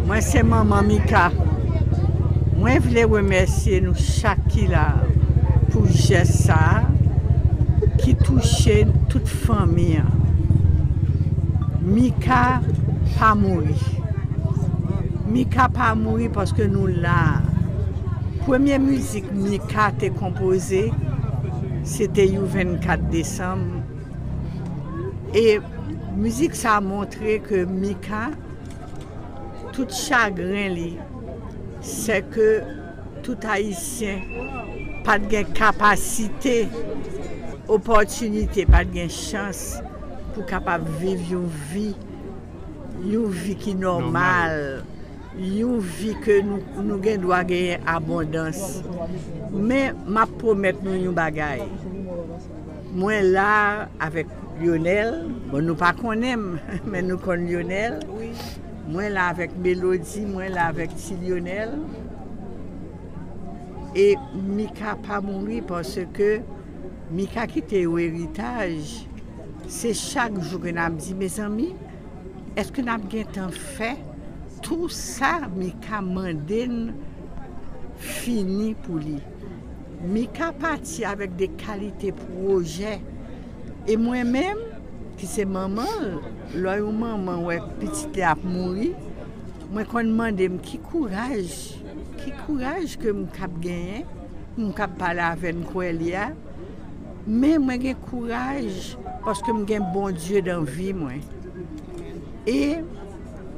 Mwen se manman Mika. Mwen vle remèsye nou chak ki la pou jès sa ki touche tout fanmi an. Mika pa mouri. Mika pa mouri paske nou la. Premye mizik Mika te konpoze se te you 24 desanm e mizik sa montre ke Mika Tout chagren li sè ke tout Ayisyen pa t gen kapasite, opòtinite, pa t gen chans pou kapab viv yon vi, yon vi ki nòmal, yon vi ke nou gen dwa genyen abondans. Men m ap pwomèt nou yon bagay, mwen la avèk. Lyonel bon nou pa konnen m men nou konn Lyonel mwen la avèk Melodie mwen la avèk ti Lyonel e Mika pa mouri paske Mika kite yon eritaj se chak jou ke nap di mezanmi eske nap gentan fè tou sa Mika mande n fini pou li. Mika pati avèk de kalite pwojè e mwen menm ki se manman l, lò yon manman wè pitit li ap mouri, mwen konn mande m ki kouraj, ki kouraj ke m kab genyen pou m kab pale avè n kwè li a, men mwen gen kouraj paske m gen Bondye dan vi mwen e.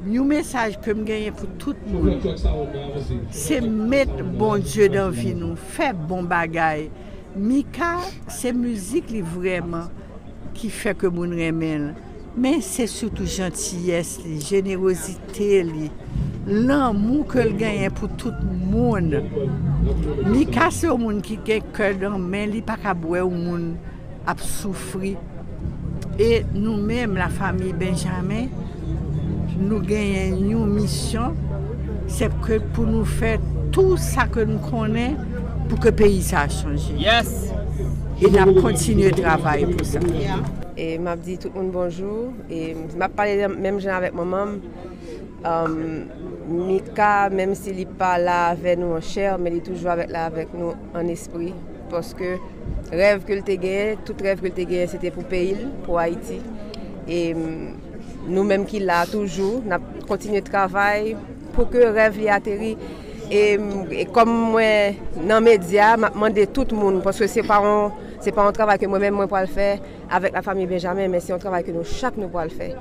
Yon mesaj kem genyen pou tout moun se met Bondye dan vi nou fè bon bagay Mika se mizik li vrèman ki fè ke moun renmenl men se sitou jantiyès li jenerozite li lanmou kel genyen pou tout moun Mika se yon moun ki gen kè dan men li paka bwè yon moun ap soufri e nou menm la famiy Benjamin nou genyen yon misyon se ke pou nou fè tou sa ke nou konnen pou ke peyi sa chanje e nap kontinye travay pou sa. E map di tout moun bonjou e map pale menm jan avèk manmanm Mika menm si li pa la avè nou an chè men li toujou la avèk nou. an espri paske rèv ke l te genyen tout rèv ke l te genyen se te pou peyi l pou Ayiti e nou menm ki la toujou n ap kontinye travay pou ke rèv li ateri e kòm mwen nan medya m ap mande tout moun paske se pa yon travay ke mwen menm mwen pral fè avèk la fanmi Benjamen men se yon travay ke nou chak nou pral fè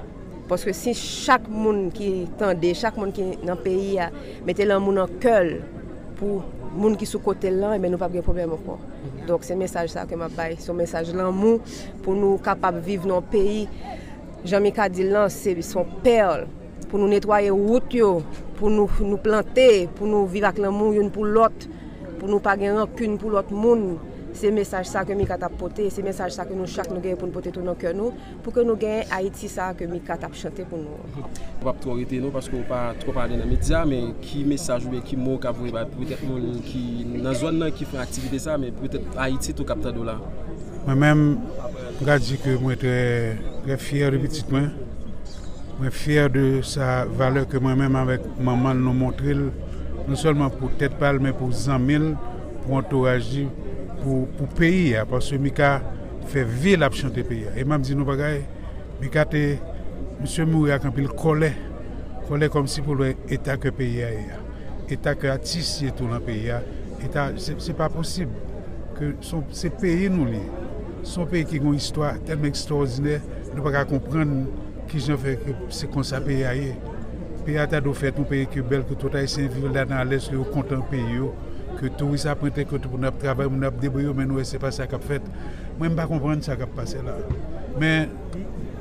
paske si chak moun ki tande chak moun ki nan peyi a mete lanmou nan kè l Pou moun ki sou kote l lan ebyen nou pap gen pwoblèm ankò. Donk se mesaj sa ke map bay, se yon mesaj lanmou pou nou kapab viv nan yon peyi jan Mika di l lan se yon pèrl pou nou netwaye wout yo, pou nou plante, pou nou viv ak lanmou youn pou lòt, pou nou pa gen rankin pou lòt moun. Se mesaj sa ke Mika tap pote, se mesaj sa ke nou chak nou gen pou nou pote tou nan kè nou. Pou ke nou gen Ayiti sa a ke Mika tap chante pou nou an. Ou pap twò rete non paske ou pa twòp ale nan medya men ki mesaj oubyen ki mo ou ka voye bay petèt moun ki nan zòn nan ki fè aktivite sa men petèt Ayiti tou kap tande w la. Mwen menm m ka di ke mwen trè trè fyè de pitit mwen, mwen fyè de sa valè ke mwen menm avèk manman l nou montre l non sèlman pou tèt pa l men pou zanmi l, pou antouraj li, pou peyi a paske Mika. fè vie lap chante peyi a e map di nou bagay mika te misye mouri ak anpil kòlè kòlè kòmsi poul wè eta kè peyi a ye a eta kè atis ye tou nan peyi a eta se pa posib ke son se peyi nou li ye son peyi ki gon istwa tèlman ekstòdinè nou paka konprann kijan fè ke se konsa peyi a ye peyi a ta dwe fèt yon peyi ki bèl ke tout ayisyen viv ladan alèz ke yo kontan peyi yo. ke touris ap rantre ke tout moun ap travay moun ap debriye yo men nou wè se pa sa kap fèt mwen m pa konprann sa kap pase la men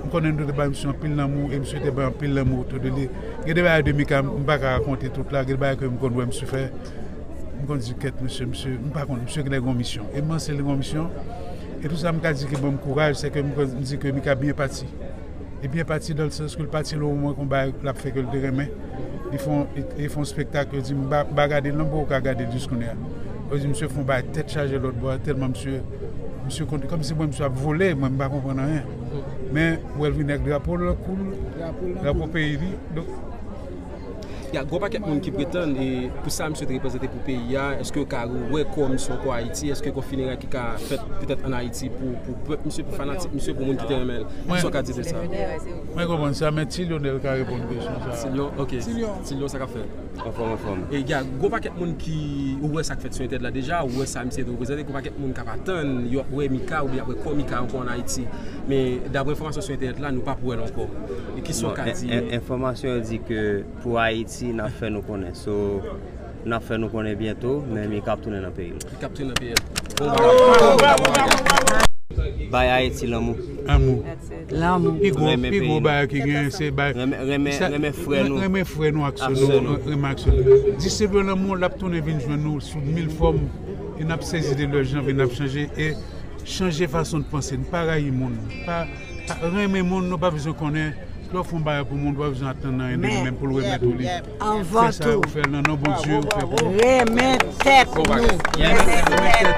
m konnen nou te bay misye anpil lanmou e misye te bay anpil lanmou otou de li gen de bagay de mika m pa ka rakonte tout la gen de bagay ke m konn wè misye fè m konn di kèt misye misye m pa konn misye genlè gen yon misyon e m panse li gen yon misyon e tout sa m ka di ki ban m kouraj se ke m di ke mika byen pati Li byen pati dans le sens ke l pati lwen mwen kon bagay lap fè ke l te renmen. Li fè yon li fè yon spektak yo di m ba ba gade l nan pouw ka gade l jis kounye a. Yo di misye fè yon bagay tèt chaje lòt bò a tèlman misye misye konn kòm si mwen misye ap vole mwen m pa konprann anyen. Men ou wè l vini ak drapo l nan kou l, drapo peyi li. Y a gwo pakèt moun ki pretann e pou sa misye te reprezante pou peyi a, eske yo ka rewè kò misye ankò Ayiti, eske gon fineray ki ka fèt petèt an Ayiti pou pèp misye, pou fanatik misye, pou moun ki te renmen l. Kisa w ka di de sa? Mwen konprann sa, men Ti Lyonèl ka reponn kesyon sa a. Ti Lyon, ok. Ti Lyon. Ti Lyon, sa k ap fèt? Anfòm, anfòm. E y a gwo pakèt moun ki wè sa k fèt sou entèt la deja, wè sa misye te reprezante, gwo pakèt moun k ap atann yo ap wè Mika oubyen y ap wè kò Mika ankò an Ayiti. Men, daprè enfòmasyon sou entènèt la, nou p ap wè l ankò. Kisa w ka di? Enfòmasyon yo di ke pou Ayiti nap fè nou konnen so nap fè nou konnen byento men mi kap tounen nan peyi l. Li kap tounen nan peyi l. Bon bagay. Bay Ayiti lanmou. Lanmou. Lanmou. Pi gwo pi gwo bagay ki genyen se bay. Renmen renmen frè nou. Renmen frè nou ak sè nou. Ak sè nou. Renmen ak sè nou. Distribye lanmou lap tounen vin jwenn nou sou mil fòm e nap sezi de lè jan vi n ap chanje e chanje fason n panse n pa rayi moun pa Renmen moun nou pa bezwen konnen lè w fè yon bagay pou moun ou pa bezwen atann anyen de li menm pou l remèt ou li fè sa ou fè l nan non Bondye ou fè pou renmen tèt nou.